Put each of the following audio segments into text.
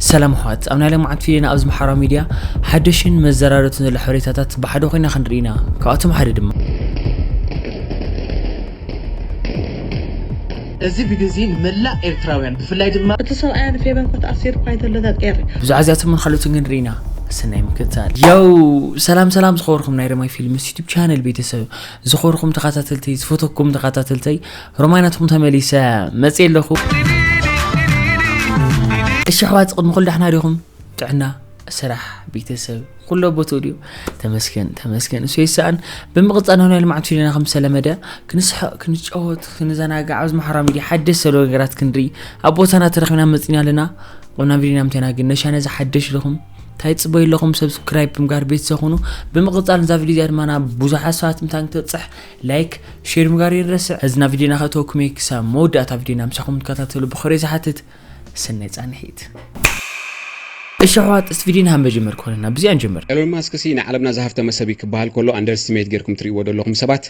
ሰላም ኣሕዋት ኣብ ናይ ለማዓንቲ ፊደና ኣብ ዝመሓራ ሚድያ ሓደሽን መዘራረብትን ዘሎ ሓበሬታታት ብሓደ ኮይና ክንርኢ ኢና ካብኣቶም ሓደ ድማ እዚ ቪድዮ እዚ ንመላእ ኤርትራውያን ብፍላይ ድማ። እቲ ሰብኣያ ንፌበን ኮት ኣሲሩ እኳ እንተሎ ተጠሪ። ብዛዕባ እዚኣቶምን ካልኦትን ክንርኢ ኢና ሰናይ ምክትታል። ያው ሰላም ሰላም ዝኸበርኩም ናይ ረማይ ፊልምስ ዩቱብ ቻነል ቤተሰብ ዝኸበርኩም ተኸታተልተይ ዝፈተኩም ተኸታተልተይ ሮማይ ናትኩም ተመሊሰ መፅእ ኣለኹ እሺ ኣሕዋት ቅድሚ ኩሉ ዳሕና ዲኹም ጥዕና ስራሕ ቤተሰብ ኩሎ ቦትኡ ድዩ ተመስገን ተመስገን እሱ ይሰኣን ብምቕፃል ናይ ናይ ልምዓት ፊልምና ከም ዝተለመደ ክንስሕቕ ክንጫወት ክንዘናጋዕ ኣብዚ ማሕራ ሚድያ ሓደሽ ዘሎ ነገራት ክንርኢ ኣብ ቦታና ተረኪብና መፅና ኣለና ቁና ቪድዮና ምተና ግን ነሻ ነዚ ሓደሽ ኢልኹም እንታይ ፅበዩ ኣለኹም ሰብስክራይብ ብምጋር ቤተሰብ ኩኑ ብምቕፃል እዛ ቪድዮ እዚኣ ድማ ናብ ብዙሓት ሰባት ምታን ክትበፅሕ ላይክ ሼር ምጋር ይረስዕ እዝና ቪድዮና ከእተወኩሜ ክሳብ መወዳእታ ቪድዮና ምሳኹም ትከታተሉ ብኽብሪ ዝሓትት ሰናይ ጻንሒት እሺ ኣሕዋት እስቲ ቪድዮ ንሃብ መጀመር ክኾነና ብዚኣ ንጀምር ኤሎን ማስክ ሲ ንዓለምና ዝሃፍተመ ሰብ እዩ ክበሃል ከሎ ኣንደርስትሜት ጌርኩም ትርእይዎ ደለኹም ሰባት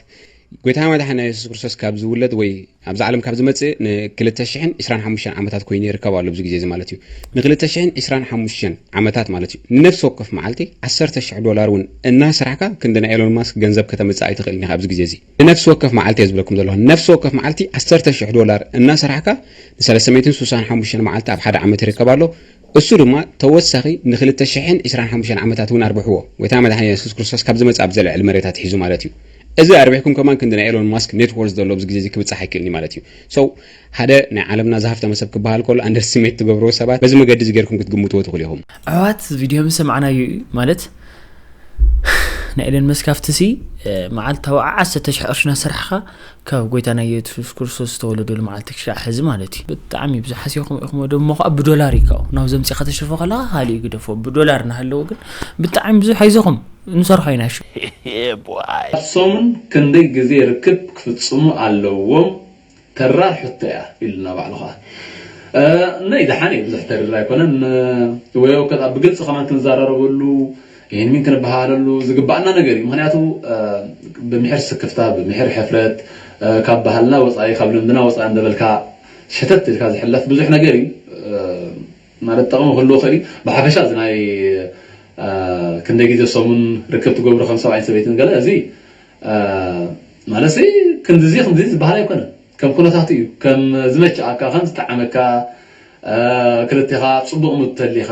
ጎይታና መድሓኒና የሱስ ክርስቶስ ካብ ዝውለድ ወይ ኣብዛ ዓለም ካብ ዝመጽእ ንክልተ ሽሕን ዕስራን ሓሙሽተን ዓመታት ኮይኑ ይርከብ ኣሎ ኣብዚ ግዜ እዚ ማለት እዩ ንክልተ ሽሕን ዕስራን ሓሙሽተን ዓመታት ማለት እዩ ንነፍሲ ወከፍ መዓልቲ ዓሰርተ ሽሕ ዶላር እውን እናሰራሕካ ክንዲ ናይ ኤሎን ማስክ ገንዘብ ከተምጽእ ኣይትኽእልን ኢኻ ኣብዚ ግዜ እዚ ንነፍሲ ወከፍ መዓልቲ እየ ዝብለኩም ዘለኹ ንነፍሲ ወከፍ መዓልቲ ዓሰርተ ሽሕ ዶላር እናሰራሕካ ንሰለስተ ሚእትን ስሳን ሓሙሽተን መዓልቲ ኣብ ሓደ ዓመት ይርከብ ኣሎ እሱ ድማ ተወሳኺ ንክልተ ሽሕን ዕስራን ሓሙሽተን ዓመታት እውን ኣርብሕዎ ጎይታና መድሓኒና የሱስ ክርስቶስ ካብ ዝመጽእ ኣብ ዘልዕል መሬት ኣትሒዙ ማለት እዩ እዚ ኣርቢሕኩም ከማን ክንዲ ናይ ኤሎን ማስክ ኔት ዎርዝ ዘሎ ኣብዚ ግዜ እዚ ክብጻሕ ኣይክእልን እዩ ማለት እዩ so ሓደ ናይ ዓለምና ዝሃፍተመ ሰብ ክበሃል ከሎ ኣንደርስቲሜት ትገብርዎ ሰባት በዚ መገዲ እዚ ጌርኩም ክትግምትዎ ትኽእሉ ኢኹም ኣሕዋት ቪድዮ ምስ ሰማዕናዮ እዩ ማለት ናይ ኤለን መስክ ኣብቲ ሲ መዓልታዊ ዓሰርተ ሽሕ ቅርሺ እናሰርሕኻ ካብ ጎይታና ኢየሱስ ክርስቶስ ዝተወለደሉ መዓልቲ ክሻዕ ሕዚ ማለት እዩ ብጣዕሚ ብዙሕ ሓሲኹም ኢኹም ደሞ ከዓ ብዶላር ይካው ናብ ዘምፂኻ ተሽርፎ ከለኻ ካልእ ግደፎ ብዶላር እናሃለወ ግን ብጣዕሚ ብዙሕ ኣይዞኹም ንሰርሖ ኢና ኣብ ሰሙን ክንደይ ግዜ ርክብ ክፍጽሙ ኣለዎም ተራር ሕቶ እያ ኢሉና ባዕሉ ከኣ እና ይድሓን እየ ብዙሕ ተሪር ኣይኮነን ወይ ኣውከት ኣብ ብግልጺ ከማን ክንዛራረበሉ ይህን ውን ክንበሃሃለሉ ዝግበኣና ነገር እዩ ምክንያቱ ብምሕር ስክፍታ ብምሕር ሕፍረት ካብ ባህልና ወፃኢ ካብ ልምድና ወፃኢ እንደበልካ ሸተት ኢልካ ዝሕለፍ ብዙሕ ነገር እዩ ማለት ጠቕሚ ክህልዎ ይኽእል እዩ ብሓፈሻ እዚ ናይ ክንደይ ግዜ ሰሙን ርክብ ትገብሩ ከም ሰብኣይን ሰበይትን ገለ እዚ ማለትሲ ክንድዚ ክንድዚ ዝበሃል ኣይኮነን ከም ኩነታቱ እዩ ከም ዝመቸኣካ ከም ዝጠዓመካ ክልቴኻ ፅቡቕ ሙድ ተሊኻ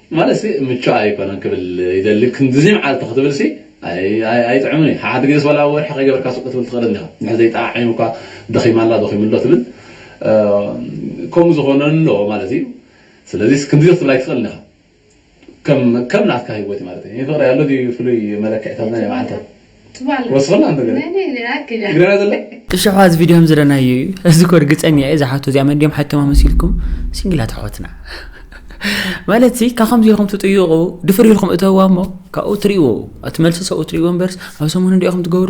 ማለትሲ ምቹእ ኣይኮነን ክብል ይደሊ ክንድዚ መዓልቲ ክትብልሲ ኣይጥዕምን እዩ ሓሓንቲ ግዜስ ዋላ ኣብ ወርሒ ከይገበርካ ስቅ ክትብል ትክእል እንዲካ እንድሕር ዘይጠዓዒሙ እኳ ደኺማ ኣላ ደኺሙ ኣሎ ትብል ከምኡ ዝኮነ ኣሎ ማለት እዩ ስለዚስ ክንድዚ ክትብል ኣይትክእልን ኢካ ከም ከም ናትካ ሂወት እዩ ማለት እዩ ፍቅሪ ኣሎ ድዩ ፍሉይ መለክዒታት ናይ መዓልታት እሸሓ እዚ ቪድዮ ከምዝረናዮ እዩ እዚ ኮ ርግፀኛ እየ እዛ ሓቶ እዚኣ መን ድዮም ሓቶማ መሲልኩም ሲንግላት ኣሕዋትና ማለት ሲ ካብ ከምዚ ኢኹም ትጥይቑ ድፍር ኢልኩም እተዋ እሞ ካብኡ ትሪእዎ እቲ መልሲ ሰብኡ ትሪእዎ እምበርስ ኣብ ሰሙን እንዲኹም ትገብሩ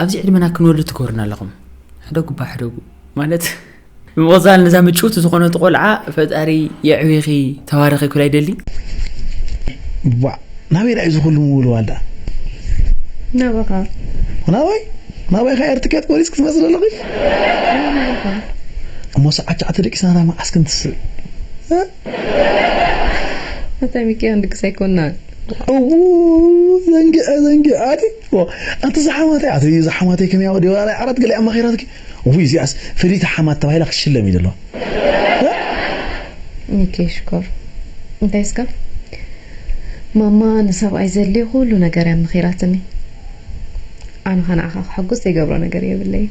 ኣብዚ ዕድመና ክንወሉ ትገብሩና ኣለኹም ሕደጉ ባ ሕደጉ ማለት ብምቕፃል ነዛ ምጭውቲ ዝኾነት ቆልዓ ፈጣሪ የዕቢኺ ተባረኺ ኩላ ይደሊ ባ ናበይ ዳዩ ዝኹሉ ምውልዋል ዳ ናባኻ ናባይ ናባይ ኸ ኤር ትኬት ቆሪፅ ክትመፅእ ዘለኺ እሞ ሰዓት ሸዓተ ደቂስና ናብ መዓስ ክንትስእ ኣታ ሚኪ ክንድግስ ኣይኮናን እዉ ዘንጊዐ ዘንጊዐ ኣቲ ኣንታ እዛ ሓማተይ ኣቲ እዛ ሓማተይ ከመይ ኣው ዲዋ ኣራይ ዓራት ገሊኣ መኺራትኪ ውይ እዚኣስ ፍልይቲ ሓማት ተባሂላ ክትሽለም እዩ ዘለዋ ሚኪ ሽኮር እንታይ እስከ ማማ ንሰብኣይ ዘድልዮ ኩሉ ነገር እያ መኺራትኒ ኣነ ከ ንዓኻ ክሕጉስ ዘይገብሮ ነገር የብለይን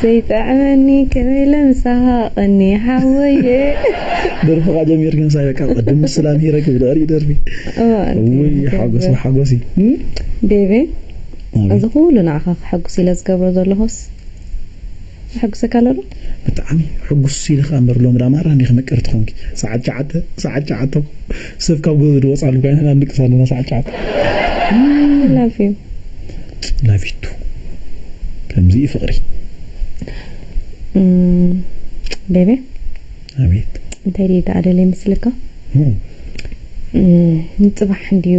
ዘይጥዕመኒ ክብለ ምሳሓቀኒ ሓወይይ። ደርፍኻ ጀሚርኪ ምሳይ በቃ ቅድም ምስ ላምሂረ ክብደርዩ ደርፊ እውይ ሓጎስ ብሓጎስ እዩ። ዴቪ እዚ ኩሉ ንዓኻ ከሐጉስ ኢለ ዝገብሮ ዘለኹስ የሐጉሰካ ኣሎ ዶ? ብጣዕሚ ሕጉስ ኢለ ከኣ እምበር ሎሚ ደኣ ማራ እንዲኺ ምቅርቲ ኮንኪ ሰዓት ሸዓተ ሰዓት ሸዓተ እኮ። ሰብ ካብ ገዝኡ ዶ ወጻሉ ጋይላ ንድቅስ ኣለና ሳዕ ጫዓት። Love you። ላቪቱ ከምዚ እዩ ፍቅሪ። ቤቤ ኣቤት። እንታይ ድየ ደኣ ደልየ ምስልካ ንጽባሕ እንድዩ።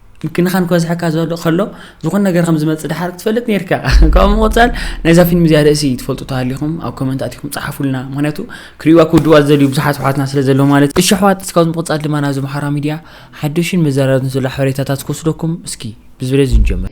ምክንኻን ክበዝሐካ ዘሎ ከሎ ዝኾነ ነገር ከም ዝመጽእ ድሓር ክትፈልጥ ነርካ ካብ ምቕጻል ናይዛ ፊልም እዚኣ ርእሲ ትፈልጡ ተሃሊኹም ኣብ ኮመንት ኣቲኹም ጸሓፉልና ምክንያቱ ክርእዋ ክውድዋ ዝደልዩ ብዙሓት ኣሕዋትና ስለ ዘሎ ማለት እሺ ኣሕዋት እስካብ ምቕጻል ድማ ናብዚ ምሓራ ሚድያ ሓዱሽን መዘራረብን ዘሎ ሓበሬታታት ክወስደኩም እስኪ ብዝብለዚ ንጀምር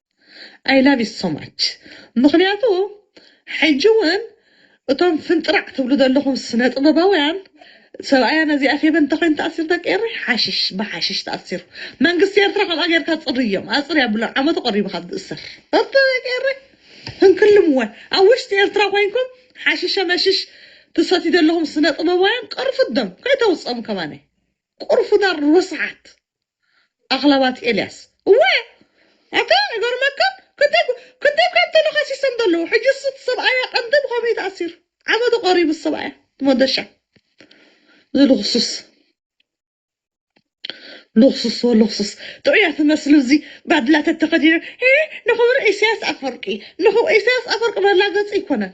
ኣይ ላቭ ዩ ሶ ማች ምኽንያቱ ሕጂ ውን እቶም ፍንጥራዕ ትብሉ ዘለኹም ስነ ጥበባውያን ሰብኣያ ነዚኣ ፌበን እንተኮይኑ ተኣሲሩ ደቂ ኤረይ ሓሽሽ ብሓሽሽ ተኣሲሩ መንግስቲ ኤርትራ ከምኣ ጌርካ ጽርዮም ኣጽርያ ኣብሎም ዓመቱ ቀሪቡ ካብ ዝእሰር እርቶ ደቂ ኤረይ ህንክልም ወ ኣብ ውሽጢ ኤርትራ ኮይንኩም ሓሽሸ መሽሽ ትሰትዩ ዘለኹም ስነ ጥበባውያን ቅርፉት ደም ከይተውጽኦም ከማነይ ቁርፉዳር ርስሓት ኣኽላባት ኤልያስ እወ ኣታ ይገርመካን ክንደይ እኮ ክንደይ እኳ እንተለኻሲሶም ዘለዉ ሕጅስ እቲ ሰብኣያ ቀንዲ ብኸመይ ተኣሲሩ ዓመቱ ቀሪቡ እቲ ሰብኣያ ሞደሻ እዚ ልኽሱስ ልኽሱስ ወልኽሱስ ጥዑያት ዝመስሉ እዚ ባድላተት ተኸዲኖም እ ንኽብሪ ኢሳያስ ኣፈወርቂ ንኽብሪ ኢሳያስ ኣፈወርቂ መላገጺ ኣይኮነን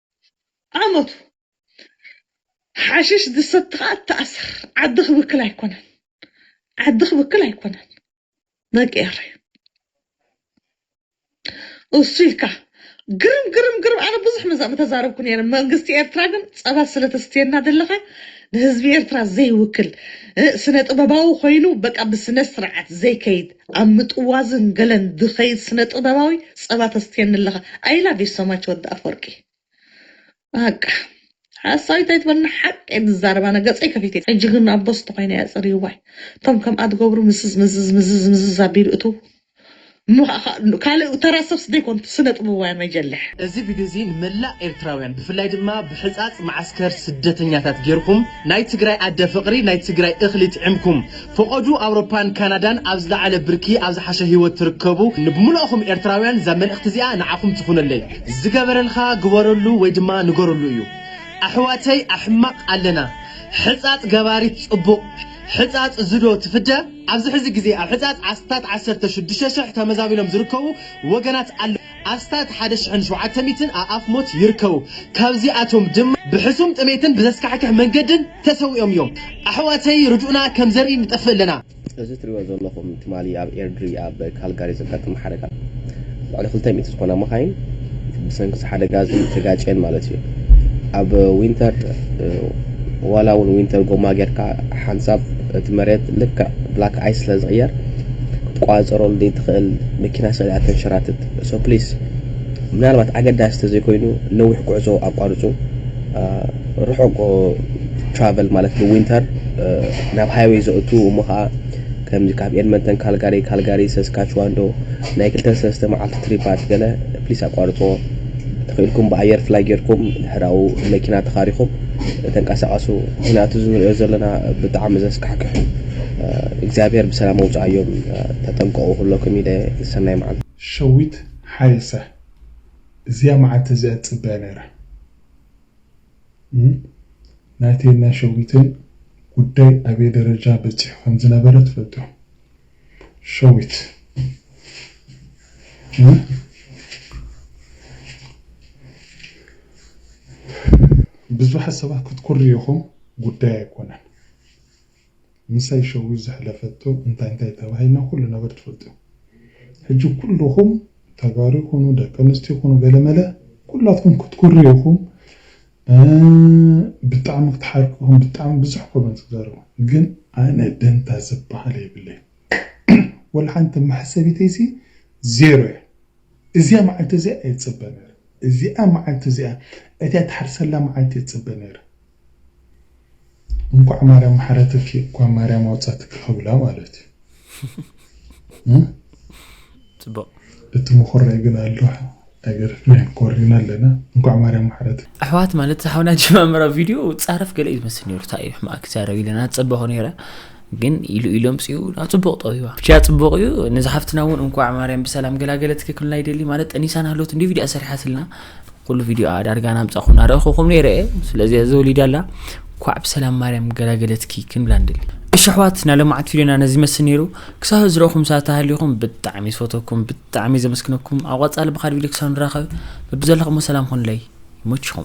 ኣመቱ ሓሽሽ ዝሰቲ ከኣ እተኣሰር ዓዲ ክብክል ኣይኮነን ዓዲ ክብክል ኣይኮነን ደቂ ኤረይ እሱ ኢልካ ግርም ግርም ግርም ኣነ ብዙሕ መዛ ምተዛረብኩ ነይረ መንግስቲ ኤርትራ ግን ጸባ ስለተስትየና ዘለኻ ንህዝቢ ኤርትራ ዘይውክል ስነ ጥበባዊ ኮይኑ በቃ ብስነ ስርዓት ዘይከይድ ኣብ ምጥዋዝን ገለን ዝከይድ ስነ ጥበባዊ ጸባ ተስትየኒ ኣለካ ኣይ ላቭ ዩ ሶማች ወዲ ኣፎርቂ ባቃ ሓሳዊት ኣይትበልና ሓቂ እየ ዝዛረብ ኣነ ገጸይ ከፊተ እየ ሕጂ ግን ኣቦ ስተ ኮይነ እየ ኣጸሪይዋይ እቶም ከምኣ ትገብሩ ምስዝ ምዝዝ ምዝዝ ምዝዝ ኣቢሉ እቱ ካልእ ተራ ሰብስ ዘይኮኑ ስነ ጥበባውያን መጀልሕ። እዚ ቪድዮ እዚ ንመላእ ኤርትራውያን ብፍላይ ድማ ብሕጻጽ መዓስከር ስደተኛታት ጌርኩም ናይ ትግራይ ኣደ ፍቅሪ ናይ ትግራይ እክሊ ጥዕምኩም ፍቐዱ ኣውሮፓን ካናዳን ኣብ ዝለዓለ ብርኪ ኣብ ዝሓሸ ሂወት ትርከቡ ንብሙልእኹም ኤርትራውያን እዛ መልእኽቲ እዚኣ ንዓኹም ትኹነለይ ዝገበረልኻ ግበረሉ ወይ ድማ ንገረሉ እዩ ኣሕዋተይ ኣሕማቕ ኣለና ሕጻጽ ገባሪት ጽቡቕ ሕጻጽ እዚ ዶ ትፍደ ኣብዚ ሕዚ ግዜ ኣብ ሕጻጽ ኣስታት ዓሰርተ ሽዱሽተ ሽሕ ተመዛቢሎም ዝርከቡ ወገናት ኣለዉ ኣስታት ሓደ ሽሕን ሸውዓተ ሚእትን ኣኣፍ ሞት ይርከቡ። ካብዚኣቶም ድማ ብሕሱም ጥሜትን ብዘስካሕክሕ መንገድን ተሰዊኦም እዮም። ኣሕዋተይ ርድኡና ከም ዘርኢ ንጠፍእ ኣለና። እዚ ትሪእዎ ዘለኹም ትማሊ ኣብ ኤርድሪ ኣብ ካልጋሪ ዘጋጠመ ሓደጋ ልዕሊ ክልተ ሚእቲ ዝኾና መኻይን ብሰንኪ እዚ ሓደጋ እዚ ተጋጭየን ማለት እዩ። ኣብ ዊንተር ዋላ እውን ዊንተር ጎማ ጌርካ ሓንሳብ እቲ መሬት ልክዕ ብላክ ኣይስ ስለ ዝቅየር ክትቆጻጸሮ ዘይትኽእል መኪና ስዒባ ተንሸራትት so please ምናልባት ኣገዳሲ ተዘይኮይኑ ነዊሕ ጉዕዞ ኣቋርጹ ርሑቅ travel ማለት ብዊንተር ናብ ሃይወይ ዘእቱ እሞ ከኣ ከምዚ ካብ ኤድመንተን ካልጋሪ ካልጋሪ ሰስካችዋን ዶ ናይ ክልተን ሰለስተ መዓልቲ ትሪፓት ገለ please ኣቋርጽዎ ተኺእልኩም ብኣየር ፍላይ ጌርኩም ድሕራኡ መኪና ተኻሪኹም ተንቀሳቀሱ ምክንያቱ እዚ ንሪኦ ዘለና ብጣዕሚ ዘስካሕክሕ እዩ እግዚኣብሔር ብሰላም ኣውፀኣዮም ተጠንቀቁ ኩለኩም ይደ ሰናይ መዓልቲ። ሸዊት ሓየሰ እዚኣ መዓልቲ እዚኣ ዝጽበያ ነይረ ናተይን ናይ ሸዊትን ጉዳይ ኣበይ ደረጃ በጺሑ ከምዝነበረ ትፈልጡ ኢኹም። ሸዊት ብዙሓት ሰባት ክትኩርዩ ኢኹም ጉዳይ ኣይኮነን ምሳይ ሸዊት ዘሕለፈቶ እንታይ እንታይ ተባሂልና ኩሉ ነገር ትፈልጡ ሕጂ ኩሉኹም ተጋሩ ይኹኑ ደቂ ኣንስትዮ ይኹኑ ገለመለ ኩላትኩም ክትኩርዩ ኢኹም ብጣዕሚ ክትሓርቅኹም ብጣዕሚ ብዙሕ ኮመንት ክትዛረቡ ግን ኣነ ደንታ ዝብሃል የብለይን ወላ ሓንቲ መሕሰቢተይ ሲ ዜሮ እያ እዚኣ መዓልቲ እዚኣ እየ ዝጽበ ነይረ እዚኣ መዓልቲ እዚኣ እቲኣ ትሓርሰላ መዓልቲ እየ ዝጽበ ነይረ እንኳዕ ማርያም መሓረትኪ እኳ ማርያም ኣውፃትኪ ክብላ ማለት እዩ ፅቡቅ እቲ መኮራይ ግን ኣሎ ነገር ፍሬን ኮሪና ኣለና እንኳዕ ማርያም መሓረትኪ ኣሕዋት ማለት ዝሓውና ጀማምራ ቪድዮ ፃረፍ ገለ እዩ ዝመስል ነይሩ እንታይ እዩ ሕማቅ ክዛረብ ኢለና ፀበኹ ነይረ ግን ኢሉ ኢሉ ኣምፅኡ ናብ ፅቡቕ ጠዊዋ ብቻ ፅቡቕ እዩ ነዚ ሓፍትና እውን እንኳዕ ማርያም ብሰላም ገላገለት ክክልና ይደሊ ማለት ጠኒሳን ሃሎት እንዲ ቪድያ ሰሪሓትልና ኩሉ ቪድዮ ኣዳርጋ ናምፃኹም ናረእኹኹም ነይረ እየ ስለዚ እዚ ወሊዳ ኣላ እንኳዕ ብሰላም ማርያም ገላገለትኪ ክንብላ ንደሊ እሺ ኣሕዋት ናይ ለማዓት ቪድዮና ነዚ ይመስል ነይሩ ክሳብ ዝረኹም ሰዓት ተሃሊኹም ብጣዕሚ ዝፈተኩም ብጣዕሚ ዘመስግነኩም ኣብ ቐፃሊ ብካድ ቪድዮ ክሳብ ንራኸብ በብዘለኹሞ ሰላም ኹንለይ ይመችኹም